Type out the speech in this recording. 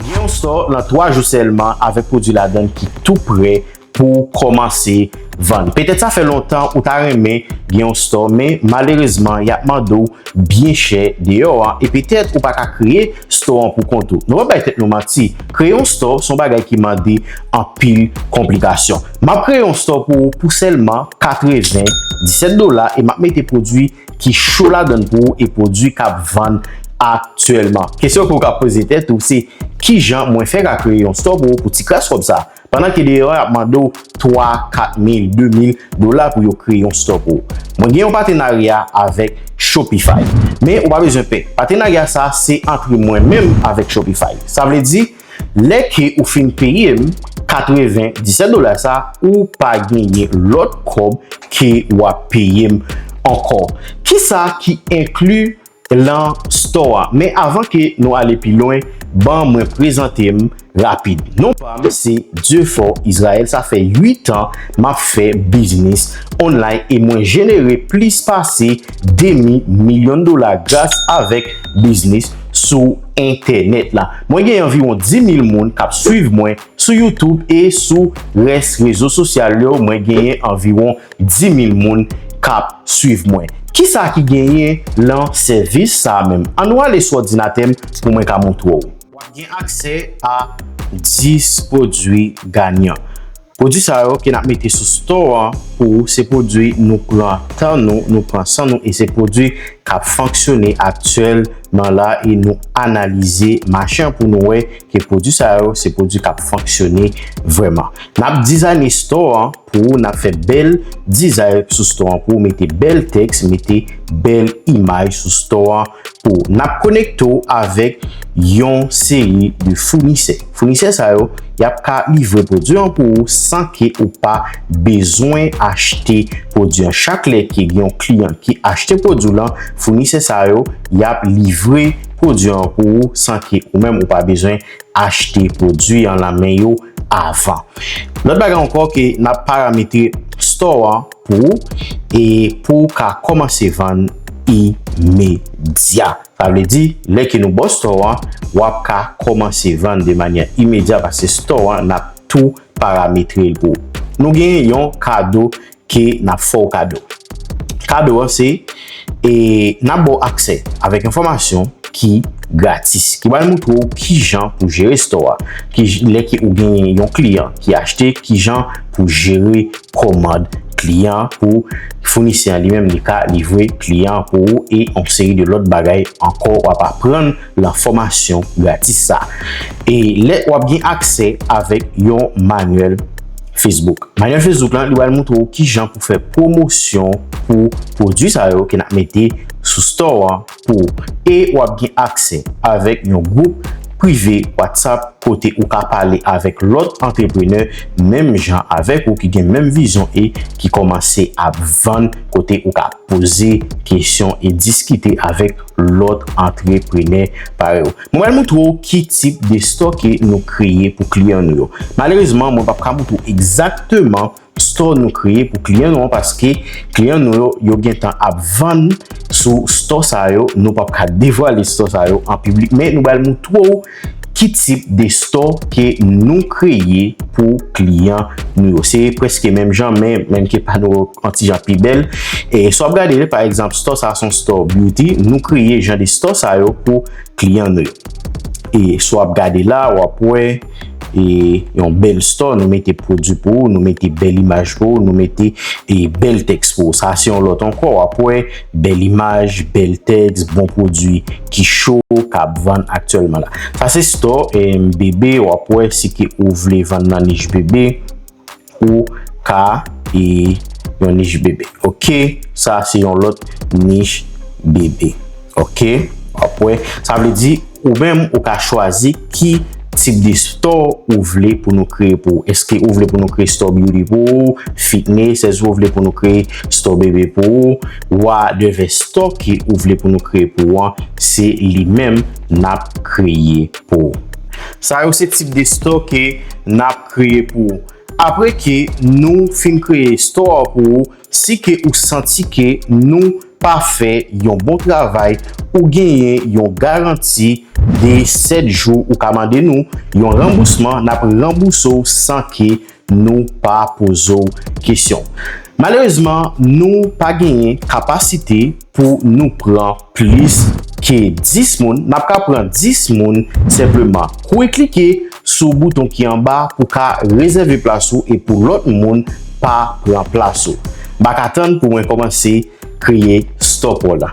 Gen yon stò nan 3 jou sèlman avèk pwodwi ladan l ki tou prè pou w kòmanse vann. Petèt sa fè lontan ou ta renmen gen yon stò men malerezman y ap mande w byen chè deyò an e petèt ou pa ka kreye stò an pou kont ou. Nou pa bay tèt nou manti, kreye yon stò se yon bagay ki mande anpil konplikasyon. M ap kreye yon stò pou ou pou sèlman 97 dola e m ap mete pwodwi ki cho ladann pou ou e pwodwi k ap vann aktyèlman. Kesyon ke ou ka poze tèt ou se, Kijan mwen fè ka kreye yon store pou ou pou ti kras kòb sa? Pandan ke deyò yo ap mande ou 3, 4 mil, 2 mil dola pou yo kreye yon store pou ou. Mwen gen yon patenarya avèk Shopify. Men ou pa bezwen pè. Patenarya sa se antre mwen menm avèk Shopify. Sa vle di, Lè ke ou fin peye m 97 dola sa ou pa genyen lòt kòb ke wap peye m ankò. Kisa ki enkli lan store a? Men avan ke nou ale pi lwen ban mwen prezante m rapid. Non pa m se Dieufort Israël sa fè 8 an map fè biznis online e mwen jenere plis pase demi milyon dola gras avèk biznis sou entènèt la. Mwen gen anviwon 10.000 moun k ap swiv mwen sou YouTube e sou rès rezo sosyal yo mwen genyen anviwon 10.000 moun k ap swiv mwen. Kisa ki genyen lan sèvis sa a menm? An nou ale sou òdinatè m pou mwen ka montre w. W ap gen aksè a 10 pwodui ganyan. Pwodwi sa yo ke nap mete sou store an pou ou se pwodwi nou pran tan nou, nou pran san nou e se pwodwi kap fonksyone aktyèl man la e nou analize mache an pou nou wè ke pwodwi sa yo se pwodwi kap fonksyone vrèman. Nap dizayne store an pou ou nap fè bèl dizay sou store an pou ou mete bèl tèks mete bèl imaj sou store an pou ou. Nap konekte ou avèk yon seri de founisè. Founisè sa yo, y ap ka livre pwodui an pou ou san ke ou pa bezwen achte pwodui an. Chak lè ke gen yon kliyan ki achte pwodui w lan, founisè sa yo, y ap livre pwodui an pou ou san ke ou menm ou pa bezwen achte pwodui an lan men yo avan. Lòt bagay ankò ke n ap parametre store an pou ou e pou ou ka kòmanse vann imedya. Sa vle di, lè ke nou baw store an, wap ka kòmanse vann de manyè imedya paske store an nap tou parametrel pou ou. Nou gen yon kado ke nap fèw kado. Kado an se, e nap baw aksè avèk enfòmasyon ki gratis, ki pral moutre ou kijan pou jere store a, ki lè ke ou gen yon kliyan ki achte, kijan pou jere komand kliyan an pou founisè an li menm li ka livre kliyan an pou ou e yon seri de lòt bagay ankò wap aprann lan fòmasyon gratis sa e lè wap gen aksè avèk yon manyèl Facebook. Manyèl Facebook lan li pral moutre ou kijan pou fè pwomosyon pou pwodwi sa yo ke nap mete sou store an. pou ou e w ap gen aksè avèk yon gwoup prive WhatsApp kote ou ka pale avèk lòt antreprenè menm jan avèk ou ki gen menm vizyon e ki kòmanse ap vann kote ou ka poze kesyon e diskite avèk lòt antreprenè parèy ou. Mwen pral moutre w ki tip de stoke nou kreye pou kliyan nou yo. Malerezman mwen pap ka moutre w egzakteman Store nou kreye pou kliyan nou an paske kliyan nou yo yo gentan ap vann sou store sa yo nou pap ka devwale store sa yo an piblik men nou bal moutre ou ki tip de store ke nou kreye pou kliyan nou yo se preske menm jan men menm ke pa nou an ti jan pi bèl e sa w ap gade pa egzanp store sa son store beauty nou kreye jan de store sa yo pou kliyan nou yo e sa w ap gade la w ap wè. e yon bèl store, nou mete pwodwi pou ou, nou mete bèl imaj pou ou, nou mete e bèl tèks pou ou. Sa se yon lòt ankò, wap wè bèl imaj, bèl tèks, bon pwodwi ki cho, kap vann aktyèlman la. Sa se store e bebe, wap wè si ke ou vle vann nan nich bebe. Ou ka e yon nich bebe. Ok. Sa se yon lot nich bebe. Ok. Wap we. Sa vle di ou menm ou ka chwazi ki tip de store ou vle pou nou kreye pou ou. Eske ou vle pou nou kreye store beauty pou ou, fitness, eske ou vle pou nou kreye store bebe pou ou. Wa de ve store ki ou vle pou nou kreye pou ou an. Se li menm nap kreye pou ou. Sa yo se tip de store ke nap. kreye pou ou. Apre ke nou fin kreye store an pou ou, si ke ou santi ke nou pa fè yon bon travay, ou genyen yon garanti de 7 jou ou ka mande nou yon ranbousman, n ap ranbouse w san ke nou pa poze w kesyon. Malerezman, nou pa genyen kapasite Pou nou pran plis ke 10 moun, nap ka pran 10 moun senpleman kwe klike sou bouton ki anba pou ka rezève plas ou e pou lòt moun pa pran plas ou. Mpa ka tann pou mwen kòmanse kreye Store Paw la.